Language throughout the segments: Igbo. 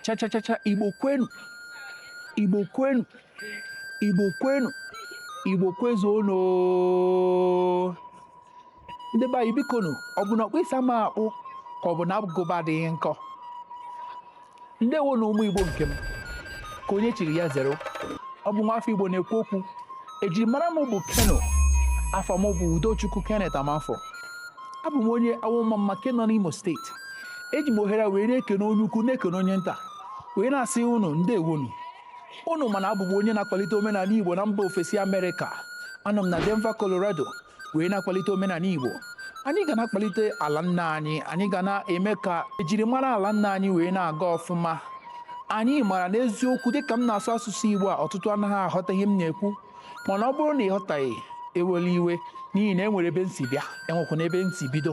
chachachacha igbo kwenu igbo kwenu igbo kwenu igbo kwezuonu ndị be anyị bikonu ọ bụ na ọkpụ isi ama akpụ ka ọ bụ na agụba adịghị nkọ ndewonu ụmụ igbo nke m ka onye chiri ya zere ọ bụ nwafọ igbo na-ekwu okwu ejirimara m bụ keno afa m bụ udochukwu kenneth amanfo abụ m onye Awọ-Ọmamma nke nọ n'Imo steeti eji m ohere a wee na-ekene onye ukwu na-ekene onye nta wee na-asị unu ndewonu unu ma na abụ m onye na-akwalite omenala Igbo na mba ofesi Amerịka anọ m na Denver Colorado wee na-akwalite omenala Igbo anyị ga na-akwalite ala nna anyị anyị ga na-eme ka ejirimara ala nna anyị wee na-aga ọfụma anyị mara n'eziokwu dịka m na-asụ asụsụ Igbo a ọtụtụ anaghị aghọta ihe m na-ekwu mana ọ bụrụ na ị ghọtaghị ewela iwe n'ihi na e nwere ebe m si bịa enwekwa na ebe m si bido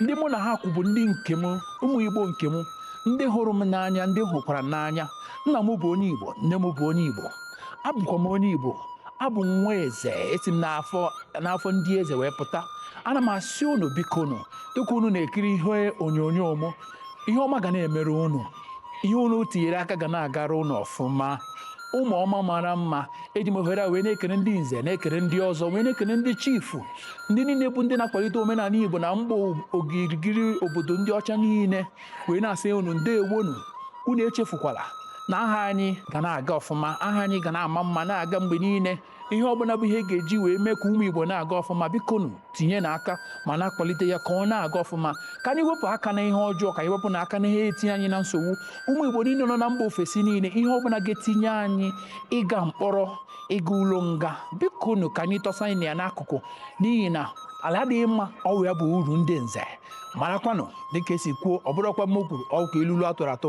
ndị mụ na ha kwụ bụ ndị nke m ụmụ igbo nke m ndị hụrụ m n'anya ndị m hụkwara n'anya nna m bụ onye igbo nne m bụ onye igbo abụkwa m onye igbo abụ m nwa eze esi m n'afọ ndị eze wee pụta ana m asị unu bikonu dịka unu na-ekiri ihe onyonyo m ihe ọma ga na-emere unu ihe unu tinyere aka ga na-agara unu ọfụma ụmụ ọma mara mma eji m ohere a wee na-ekele ndị nze na-ekele ndị ọzọ wee na-ekele ndị chifu ndị niile bụ ndị na-akwalite omenala igbo na mgba ogirigiri obodo ndị ọcha niile wee na-asị unu ndewonu unu echefukwala na aha anyị ga na-aga ọfụma aha anyị ga na-ama mma na-aga mgbe niile ihe ọbụla bụ ihe ga-eji wee mee ka ụmụ Igbo na-aga ọfụma bikonu tinyenụ aka ma na-akwalite ya ka ọ na-aga ọfụma ka anyị wepụ aka na ihe ọjọọ ka anyị wepụnụ aka na ihe etinye anyị na nsogbu ụmụ Igbo niile nọ na mba ofesi niile ihe ọbụla ga-etinye anyị ịga mkpọrọ ịga ụlọ nga bikonu ka anyị tọsanụ ya n'akụkụ n'ihi na ala adịghị mma ọ wụ ya bụ uru ndị nze marakwanụ dịka esi kwuo ọ bụrụkwa m kwuru okwu ilulu atụrụ atụ